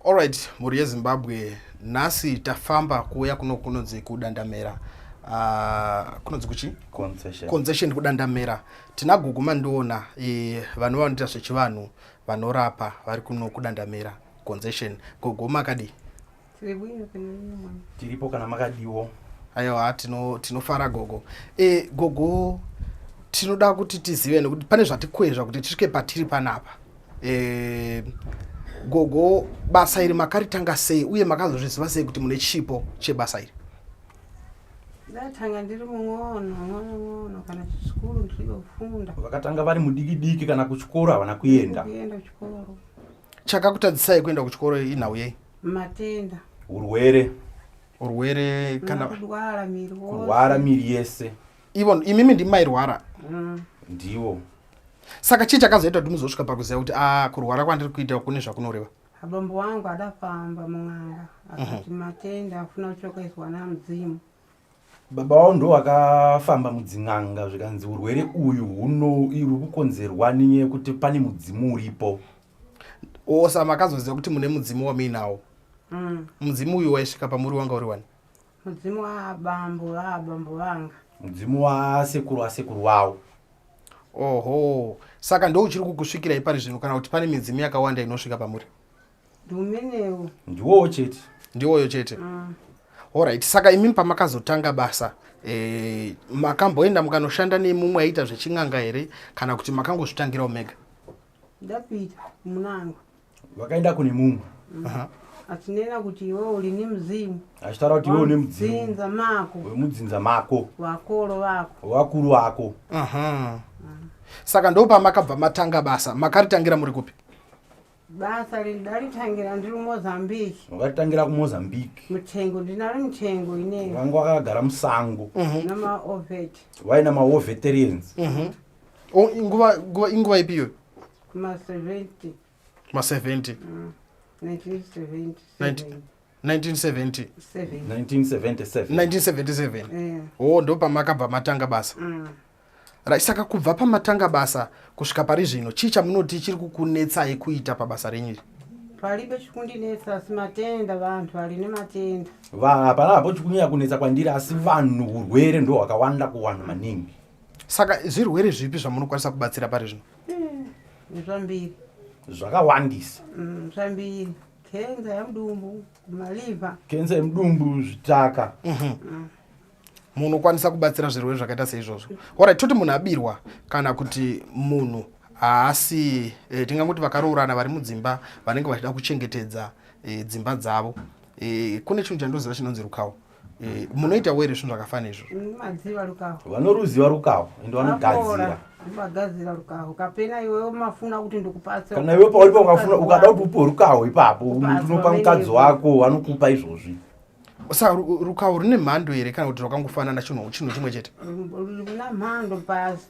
Alright, mhuri yeZimbabwe nhasi tafamba kuuya kuno kunonzi kudandamera uh, kunonzi kuchi concession, concession kudandamera tina gugu mandiona e, vanhu vanoita zvechivanhu vanorapa vari kuno kudandamera concession gugu makadii tiripo kana makadiwo aiwa tinofara tino gogo e, gogo tinoda kuti tizive nekuti pane zvatikwezva kuti tisvike patiri panapa e, gogo basa iri makaritanga sei uye makazozviziva sei kuti mune chipo chebasa iri ndatanga ndiri mung'ono mwana ng'ono kana chikuru ndiri kufunda vakatanga vari mudiki diki kana kuchikoro havana kuenda kuenda kuchikoro chakakutadzisai kuenda kuchikoro inhau yei matenda urwere urwere kana kurwara miri kurwara miri yese ivo imimi ndimairwara mm. ndivo saka chii chakazoita kuti muzosvika pakuziva kuti a ah, kurwara kwandiri kuita kune zvakunoreva abambo wangu adafamba mun'anga akati mhm. matenda afuna kuchokaizwa namudzimu baba wavo ndo vakafamba mudzin'anga zvikanzi urwere uyu hunouri kukonzerwa ninye yekuti pane mudzimu uripo osa makazoziva kuti mune mudzimu wamuinawo mm. mudzimu uyu waisvika pamuri wanga uri wani mudzimu waabambo vaabambo vanga mudzimu wasekuru wasekuru wavo oho saka ndouchiri kukusvikirai pari zvinhu kana kuti pane midzimu yakawanda inosvika pamuri ndomenewo ndiwowo chete ndiwoyo chete mm. orit saka imimi pamakazotanga basa eh, makamboenda mukanoshanda nemumwe aita zvechin'anga here kana kuti makangozvitangirawo mega ndapita munanga vakaenda kune mumwe mm. achinena kuti iwe uri nemuzimu achitaura kuti iwe une mudzinza mako wemudzinza mako vakoro vako vakuru vako saka ndopamakabva matanga basa makaritangira muri kupi basa riri ndaritangira ndiri mozambique wakaritangira kumozambique mutengo ndinari mutengo inei wanga wakagara musango mhm. namaovet waina maoveterians mhm. nguva inguva ipi iyoyo ma70 ma70 1977 o ndopamakabva matanga basa mm. Right, saka kubva pamatanga basa kusvika pari zvino chii chamunoti chiri kukunetsai kuita pabasa renyu iri palibe chikundinetsa asi matenda vanhu vari nematenda vanhu hapana hapo chikunyanya kunetsa kwandiri asi vanhu urwere ndo hwakawanda kuwanhu maningi saka zvirwere zvipi zvamunokwanisa kubatsira pari zvino eh, zvambiri zvakawandisa mm, zvambiri kenza yemudumbu maliva kenza yemudumbu zvitaka mhm. mm. munhu okwanisa kubatsira zvirwere zvakaita seizvozvo ora toti munhu abirwa kana kuti munhu haasi e, eh, tinganguti vakaroorana vari mudzimba vanenge vachida kuchengetedza e, dzimba dzavo e, kune chinhu chandoziva chinonzi rukawo e, munoita were zvinhu zvakafana izvo vanoruziva rukawo ende vanogadzira vagadzira rukaho kapena iwewe mafuna kuti ndikupatsa kana iwe pauri paukafuna ukada kuti upe rukaho ipapo unopa mukadzi wako anokupa izvozvi sa rukawo rune mhando here kana kuti rwakangofanana chinhu chinhu chimwe chete runa mhando basi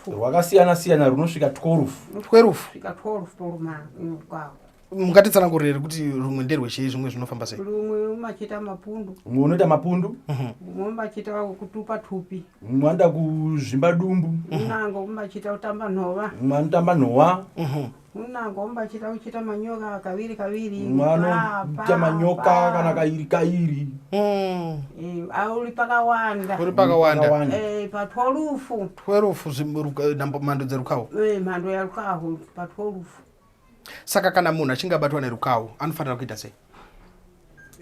rwakasiyana siyana runosvika 12 12 svika 12 poruma rukawo mukatitsanangurira here kuti rumwe nderwechei zvimwe zvinofamba sei rumwe umachiita mapundu umwe unoita mapundu mhm. umwe umachiita kutupa tupi umwe anoita kuzvimba dumbu unango umachiita kutamba nhova umwe anotamba nhova mhm. unangomba achita kuchita manyoka kaviri kaviri anoita manyoka kana kairi kairi hmm. eh, uri pakawanda uri pakawanda eh, patwolufu twolufu mhando dzerukawo eh, mhando yarukawo patwolufu saka kana munhu achinge abatwa nerukawo anofanira kuita sei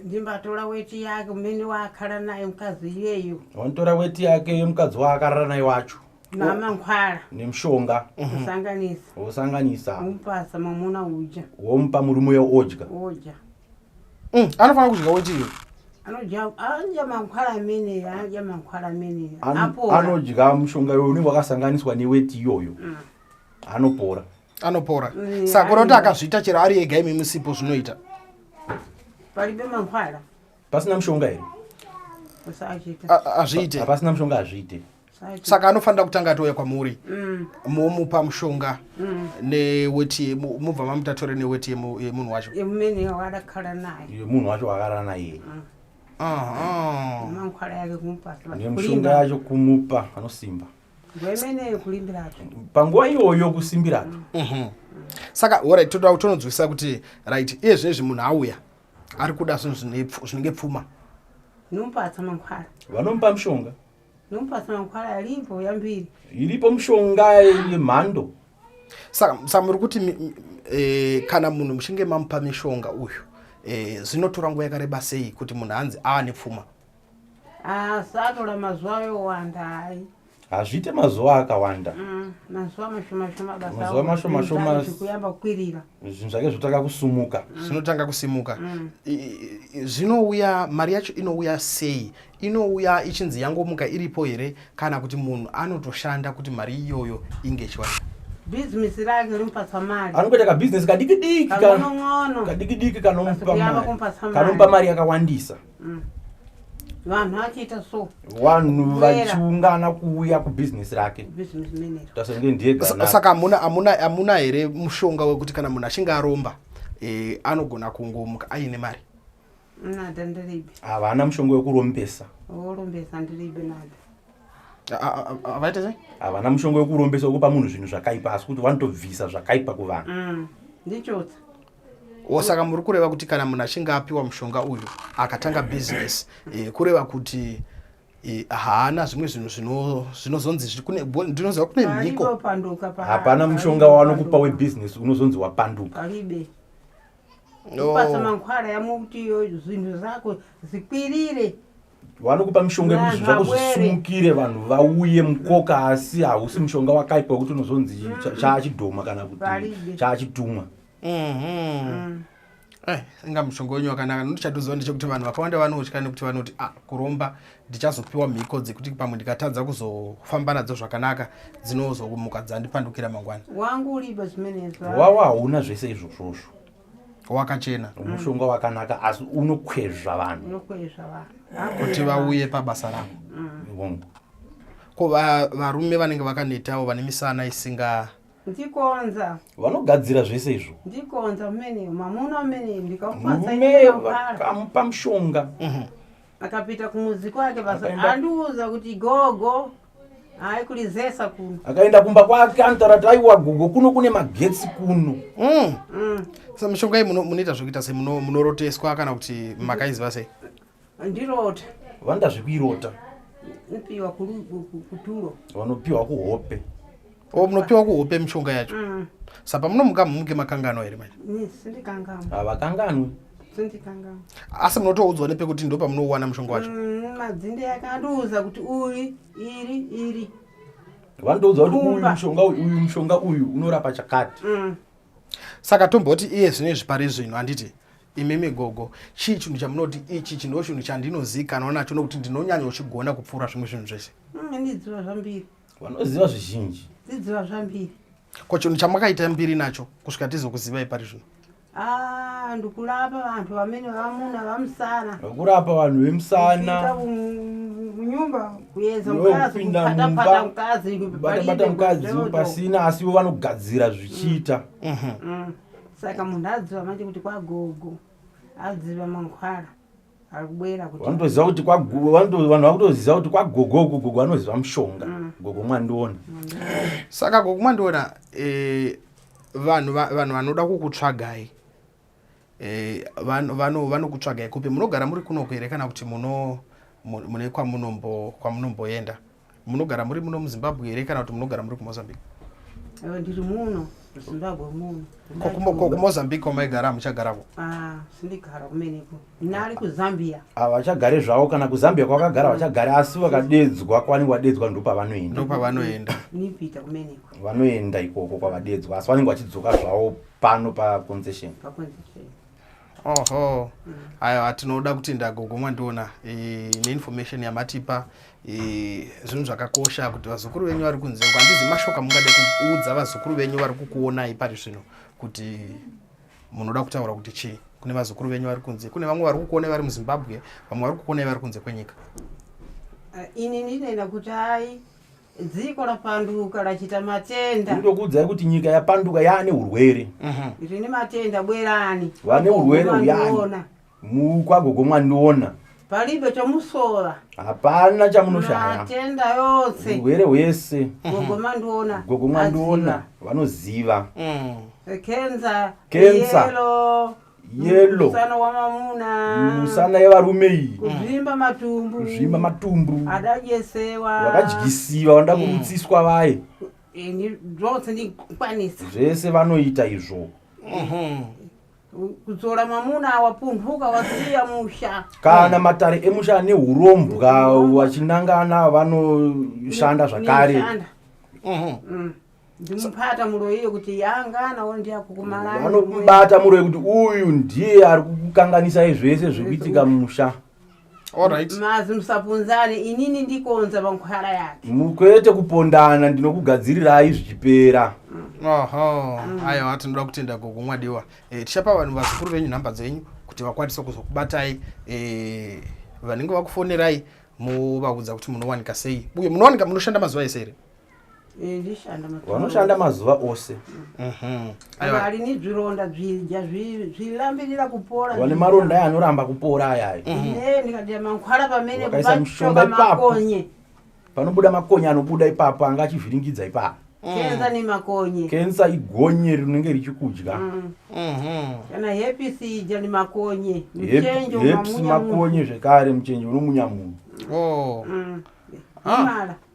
ndimbatora weti yake umene waakarara naye mukadzi iyeyo wanotora weti yake yemukadzi waakarara naye wacho mama nkhwala nemushonga mhm. wosanganisa wosanganisa womupasa mamuna udya womupa murume uya odya odya mm, anofanira kudya wetiyo anodya mankhwala amene anodya mankhwala amene anodya mushonga iyoyo unenge wakasanganiswa neweti iyoyo mm. anopora anopora mm, saka unoti akazviita chero ari ega imi musipo zvinoita palibe mankhwala pasina mushonga here azviite pasina mushonga azviite saka anofanira kutanga atouya kwamuri mm. momupa mushonga mm. neweti mobva mamutatore neweti yemunhu wacho yemunhu wacho akarara naye mm. nemushonga yacho kumupa anosimba panguva iyoyo kusimbiratu mhm. saka orit toda kutononzwisisa kuti right iye zvinezvi munhu auya ari kuda zvinhu zvinenge pfuma vanomupa mushonga iripo mushonga yemhando saka muri kuti e, kana munhu muchinge mamupa mishonga uyu e, zvinotora nguva yakareba sei kuti munhu anzi aane pfuma asatora ah, mazuva yowanda hai hazviite mazuva akawanda mm, mazuva mashomashomamazuva mashomashomazvikuyamba kukwirira zvinhu zvake zvotanga kusumuka mm. zvinotanga kusimuka mm. zvinouya mari yacho inouya sei inouya ichinzi yangomuka iripo here kana kuti munhu anotoshanda kuti mari iyoyo inge ichiwana bhizimisi rake rimupatsa mari anokuita kabhizinesi kadikidiki kadikidiki kanomupa mari yakawandisa mm. vanhu vachiita so vanhu vachiungana kuuya kubhizinesi rake tasenge ndiyesaka amuna here mushonga wekuti kana munhu achinge aromba eh, anogona kungomuka aine mari nada ndiribe havana mushonga wekurombesa worombesa ndiribe nada avaita sei havana mushonga wekurombesa wekupa munhu zvinhu zvakaipa asi kuti vanotobvisa zvakaipa kuvanhu mm, ndichotsa o saka muri kureva kuti kana munhu achinge apiwa mushonga uyu akatanga business e, kureva kuti e, haana zvimwe zvinhu zvinozonzi ndinoziva kune mhiko hapana mushonga wavanokupa webusiness unozonzi wapanduka kupasa oh. mankhwala yamwe kuti zvinhu zvako zikwirire vanokupa mishonga yekuzvi zvako zvisumukire vanhu vauye mukoka asi hausi mushonga wakaipa wekuti unozonzi mm. chaachidhoma kana kuti chaachitumwa mm-hmm. mm. eh, inga mushonga wenyu wakanaka notichatoziva ndechekuti vanhu vakawanda vanotya nekuti vanoti a ah, kuromba ndichazopiwa mhiko dzekuti pamwe ndikatadza kuzofamba nadzo zvakanaka dzinozomuka dzandipandukira mangwana wangu uripa chimenewawa hauna zvese izvozvozvo wakachena mushonga wakanaka asi unokwezva vanhu kuti vauye pabasa ravo mm. ko varume vanenge vakanetawo vane misana isinga ndikonza vanogadzira zvese izvo ndikonza mene mamuna mene ndikamupa mushonga mhm. akapita kumuzi kwake andiudza kuti gogo aikulizesa kuno akaenda kumba kwake anotaura kuti aiwa gogo kuno kune magetsi kuno mm. mm. sa mishonga iyi munoita zvekuita se munoroteswa kana kuti makaiziva sei ndirota vanoda zvekuirota nopiwa kuturo vanopiwa kuhope o munopiwa kuhope mishonga yacho mm. sa pamunomuka mumuke makanganwa here manje havakanganwi asi munotoudzwa nepekuti ndo pamunowana mushonga wacho mm, madzinde yake andiudza kuti uri iri iri vanotoudza kuti uyu mushonga uyu mushonga uyu unorapa chakati mm. saka tomboti iye zvino izvi pari zvino handiti imimi gogo chii chinhu chamunoti ichi chino chinhu chandinozikanwa nacho nokuti ndinonyanyochigona kupfuura zvimwe zvinhu zvese mm, ndidziva zvambiri vanoziva zvizhinji dzidziva zvambiri ko chinhu chamakaita mbiri nacho kusvika tizokuzivai pari zvino ah, ndikurapa vanhu vamene vamuna vamusana kurapa vanhu vemusana kunyumba kuedza mukazipindamumbabata mukadzi pasina asi ivo vanogadzira zvichiita mm. Mhm. Mm. saka munhu aziva manje kuti kwagogo aziva mankhwara vanotoziva kuti vanhu vakutoziva kuti kwagogo uku gogo vanoziva mushonga mm. gogo mwandiona saka gogo mwandiona eh, vanhu vanoda kukutsvagai eh, vanokutsvagai kupi munogara muri kunoku here kana kuti mune kwamunomboenda munogara muri muno muzimbabwe here kana kuti munogara muri kumozambique eh, ndiri muno zimbabwe muno ko kumozambique kwamaigara hamuchagarako ah, sindigara kumeneko nari kuzambia ah, vachagare zvavo kana kuzambia kwavakagara mm. vachagare asi vakadedzwa kwavanenge vadedzwa ndopavanoenda ndopavanoenda nipita kumeneko vanoenda ikoko kwavadedzwa asi vanenge vachidzoka zvavo pano paconcession oho aiwa tinoda kuti ndagogomwa ndiona eh, neinformation yamatipa eh, zvinhu zvakakosha kuti vazukuru venyu vari kunze uko handizi mashoko amungade kuudza vazukuru venyu vari kukuonai pari zvino kuti munoda kutaura kuti chii kune vazukuru venyu vari kunze kune vamwe vari kukuonai vari muzimbabwe vamwe vari kukuonai vari kunze kwenyika Ah, ini ndinena kuti hai dziko rapanduka rachita matenda ndokuudzai kuti nyika yapanduka yaane urwere mhm. rine matenda bwerani vane urwere uyani mukwagogo mwandiona palibe chamusora hapana chamunoshaya matenda yose urwere hwese gogo mandiona gogo mandiona vanoziva mm. kenza kenza yelo musana wamamuna musana yevarume iyi kuzvimba matumbu kuzvimba matumbu adajesewa vakadyisiwa vanoda mm. kurutsiswa vaye ini zvose ndikwanisa zvese vanoita izvo mhm. kudzora mamuna wapunhuka wasiya musha kana matare emusha ane urombwa wachinangana vanoshanda zvakare mhm. mm. ndimupata muroyi yekuti yangana ndiyakukumalanobata muroyi kuti uyu ndiye ari kukanganisai zvese zvekuitika musha mazi musapunzane inini ndikonza pankhwara yake mukwete kupondana ndinokugadzirirai zvichipera oho mm. aiwa tinoda kutenda gogo mwadiwa eh, tichapa vanhu vazukuru venyu nhamba dzenyu kuti vakwanise kuzokubatai eh, vanenge vakufonerai muvaudza kuti munowanika sei uye munowanika munoshanda mazuva ese here Eh, vanoshanda mazuva ose mhm. ari nezvironda zvidya zvilambirira kupora vane maronda aya anoramba kupora aya eh, mhm. eh, ndikadira mankhwala pamene kupachoka makonye panobuda makonye anobuda ipapo anga achivhiringidza ipapo mm. kensa nemakonye kensa igonye rinenge richikudya mm. mhm. kana hepis idya nemakonye muchenjehepis makonye zvekare muchenje unomunya munhu oh. mm. ah. imala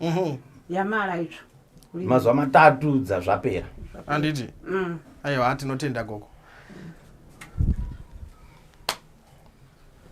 ehe yamara itsvo mazuva matatu dzazvapera anditi mm. aiwa tinotenda gogo